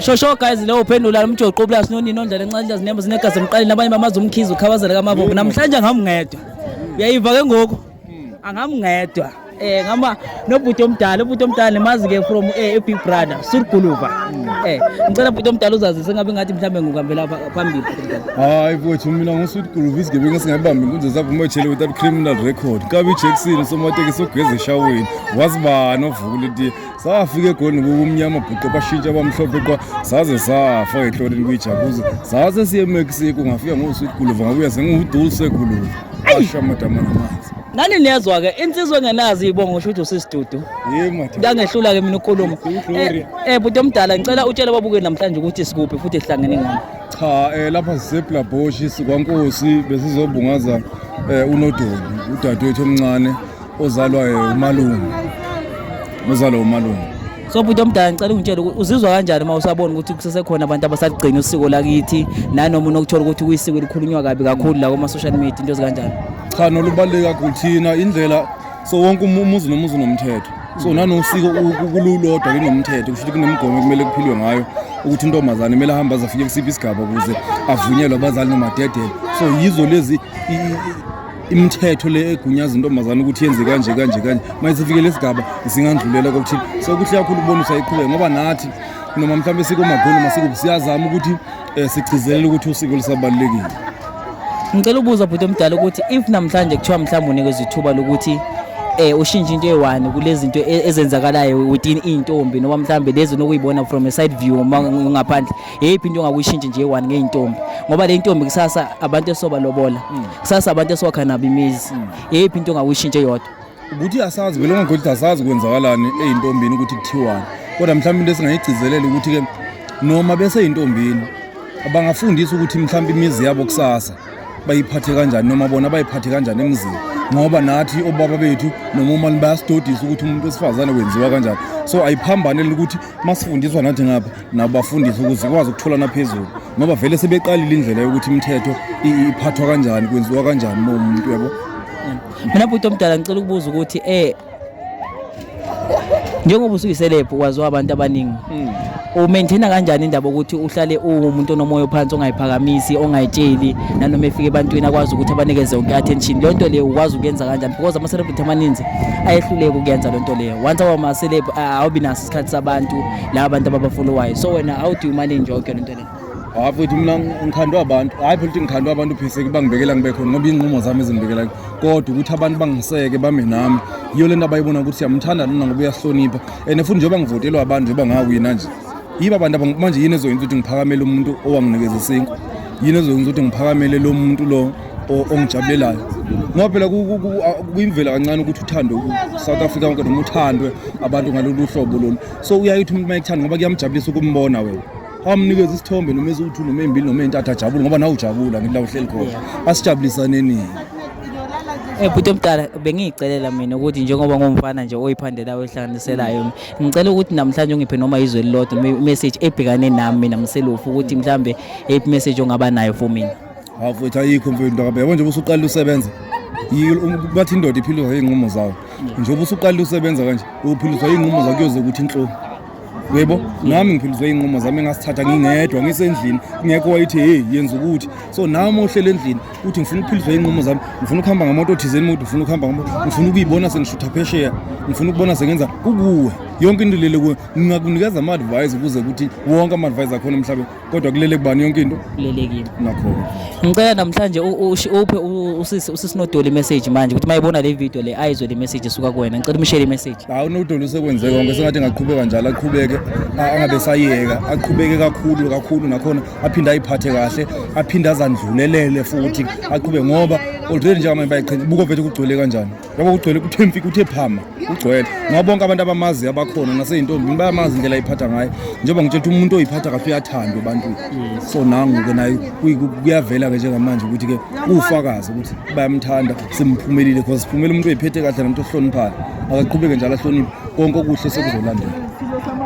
shosho guys leyo uphendula umjoqo plus nonini ondlela encane nje zinembo zinegazi emqaleni abanye bamazi umkhizi ukhawazela kamabombo namhlanje ngamngedwa uyayiva ke ngoku angamngedwa eh ngama nobhuti omdala ubhuti omdala nemazi ke from eh big brother surguluva eh ngicela ubhuti omdala uzazise ngabe ngathi mhlambe ngukambela phambili hayi futhi mina ngusudguluva isigebengu singabambi inkunzi zavume ejele without criminal record kabi Jackson somateke sogeza eshaweni wazibani ovukule safika egolini kukumnyama bhuqe bashintsha abamhlophe qwa saze safa ngenhloleni kwijakuza saze siye emexico ngafika ngosweet guluva ngabuya sengiwudul seguluva asha madama namanzi nani niyezwa-ke insizwa engenazi ibongo sho ukuthi usisidudu ngangehlula-ke mina ukhuluma um eh, eh, bhuti omdala ngicela utshele babuke namhlanje ukuthi sikuphi futhi sihlangene ngani cha um lapha siseblabhoshi sikwankosi besizobungaza um unodoli udadewethu omncane Uzalwa umalume. Uzalwa umalume. So bhuti omdala ngicela ungitshele ukuthi uzizwa kanjani uma usabona ukuthi kusesekhona abantu abasaligcina usiko lakithi nanoma unokuthola ukuthi kuyisiko elikhulunywa kabi kakhulu la kuma social media into ezikanjani. Cha nolubaluleke kakhulu thina indlela so wonke umuzi nomuzi unomthetho. So nanosiko ukululodwa linomthetho kusho ukuthi kunemigomo kumele kuphilwe ngayo ukuthi intombazane kumele ahambe azafike kusiphi isigaba ukuze avunyelwe abazali nomadedele. So yizo lezi imithetho le egunyaza intombazane ukuthi yenze kanje kanje kanje manje sifikele isigaba zingandlulela kokuthini so kuhle kakhulu ukubonisa iqhubeke ngoba nathi noma mhlawumbe sikomakhulu masikubi siyazama ukuthi um sigcizelele ukuthi usiko lisabalulekile ngicela ukubuza bhuti omdala ukuthi if namhlanje kuthiwa mhlawumbe unikezwa ithuba lokuthi eh ushintshe into eyiwani kulezi zinto e, ezenzakalayo within intombi noma mhlambe lezi nokuyibona from a side view ngaphandle yeyiphi into ongakuyishintsha nje one ngeyintombi ngoba le ntombi kusasa abantu esobalobola mm. kusasa abantu esokha nabo imizi mm. yeyiphi into ongakuyishintsha eyodwa ukuthi asazi vele ongagodi asazi kwenzakalani eyintombini ukuthi kuthiwani kodwa mhlawumbe into esingayigcizelela ukuthi-ke noma beseyintombini abangafundisa ukuthi mhlawumbe imizi yabo kusasa bayiphathe kanjani noma bona bayiphathe kanjani emzini ngoba nathi obaba bethu noma umani bayasidodisa ukuthi umuntu wesifazane wenziwa kanjani so ayiphambanele ukuthi masifundiswa nathi ngapha nabafundisi ukuze sikwazi ukuthola naphezulu ngoba vele sebeqalile indlela yokuthi imithetho iphathwa kanjani kwenziwa kanjani uma umuntu yabo mina bhuti omdala ngicela ukubuza ukuthi eh njengoba usuyiselebhu waziwa abantu abaningi hmm. umaintaina kanjani indaba ukuthi uhlale uwumuntu onomoya ophansi ongayiphakamisi ongayitsheli nanoma efika ebantwini akwazi ukuthi abanikeze yonke attention leyo nto leyo ukwazi ukuyenza kanjani because ama-celebrity amaninzi ayehluleka ukuyenza leyo nto leyo once awama-celeb awubi naso isikhathi sabantu laba bantu ababafuna uwayo so wena how do you manage yonke le nto le hayi futhi mina ngikhandwa abantu hayi futhi ngikhandwa abantu pheseke bangibekela ngibe khona ngoba iy'nqumo zami ezingibekela kodwa ukuthi abantu bangiseke bame nami yiyo le nto abayibona ukuthi siyamthanda nina ngoba uyasihlonipha and futhi njengoba ngivotelwa abantu njengoba ngawina nje yiba abantu manje yini ezoyenza ukuthi ngiphakamele umuntu owanginikeza isinkwa yini ezoyenza ukuthi ngiphakamele lo muntu lo ongijabulelayo ngoba phela kuyimvela kancane ukuthi uthandwe south africa wonke noma uthandwe abantu ngalolu hlobo lolu so uyayithi umuntu mayekuthanda ngoba kuyamjabulisa ukumbona wena awamnikeza isithombe noma eziwu-two noma eyimbili noma eyintathu ajabule ngoba nawe ujabula ngila uhleli khona asijabulisaneni Eh bhuti omdala bengiyicelela mina ukuthi njengoba ngumfana nje oyiphandela oyihlanganiselayo ngicela ukuthi namhlanje ungiphe noma izwe elilodwa message ebhekane nami mina mselofu ukuthi mhlambe ip message ongaba nayo for mina hawu mfethu ayikho mfethu ndakabhe yabo njengoba usuqalile usebenza um, bathi indoda iphiliswa iy'nqumo zawo njengoba usuqalile usebenza kanje uphiliswa iy'nqumo zawo kuyoze ukuthi inhlungu yebo nami ngiphiliswe iy'nqumo zami engasithatha ngingedwa ngisendlini kungekho wayithi heyi yenza ukuthi so nami ohlele endlini uthi ngifuna ukuphiliswa iy'nqumo zami ngifuna ukuhamba ngamoto othizeni mude ngifuna ukuhamba ngamoto ngifuna ukuyibona sengishutha phesheya ngifuna ukubona sengenza kukuwe yonke into lele kuwe ngingakunikeza ama-advise ukuze ukuthi wonke ama-advise akhona emhlabeni kodwa kulele kubani yonke into kulelekile nakho ngicela namhlanje uphe usisi usisinodoli message manje ukuthi mayibona le video le ayizwe le message esuka kuwena ngicela umshele message hawu unodoli usekwenzeke konke sengathi ngaqhubeka njalo aqhubeke angabe sayeka aqhubeke kakhulu kakhulu nakhona aphinde ayiphathe kahle aphinde azandlulelele futhi aqhubeke ngoba already njengamanje bayiqhenya buko vethu kugcwele kanjani ngoba kugcwele kuthe mfi kuthe phama kugcwele ngoba bonke abantu abamazi abakhona naseyintombini bayamazi indlela ayiphatha ngayo njengoba ngitshela ukuthi umuntu oyiphatha kahle uyathandwa ebantwini so nangu-ke naye kuyavela-ke njengamanje ukuthi-ke uwufakazi ukuthi bayamthanda simphumelile because siphumele umuntu oyiphethe kahle nomuntu ohloniphayo akaqhubeke njalo ahloniphe konke okuhle sekuzolandela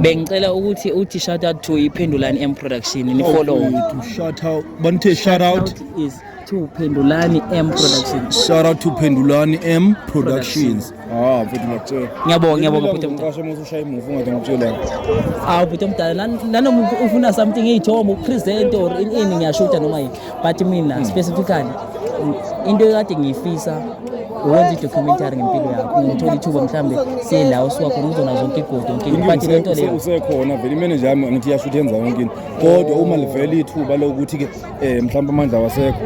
bengicela ukuthi uthi shout out to iphendulani m production nifollow oh, shout out banithe shout out is to Pendulani M Productions. Shout out to Pendulani M Productions. Ah, mfethu ngiyakutshela. Ngiyabonga, ngiyabonga bhuti omdala. Ngisho uma usushaya imuvu ngathi ngikutshela. Ah, bhuti omdala, nanoma ufuna something eyithombo, present or in in ngiyashuta noma yini. But mina hmm. specifically into ekade ngiyifisa uwenza i-documentary ngempilo yakho ngithola ithuba mhlawumbe siyela usiwakho ngizona zonke igodo nkinga but le nto leyo usekhona vele imeneja yami ngithi iyasho ukuthi yenza yonke into kodwa uma livele ithuba lokuthi-ke eh mhlawumbe amandla wasekho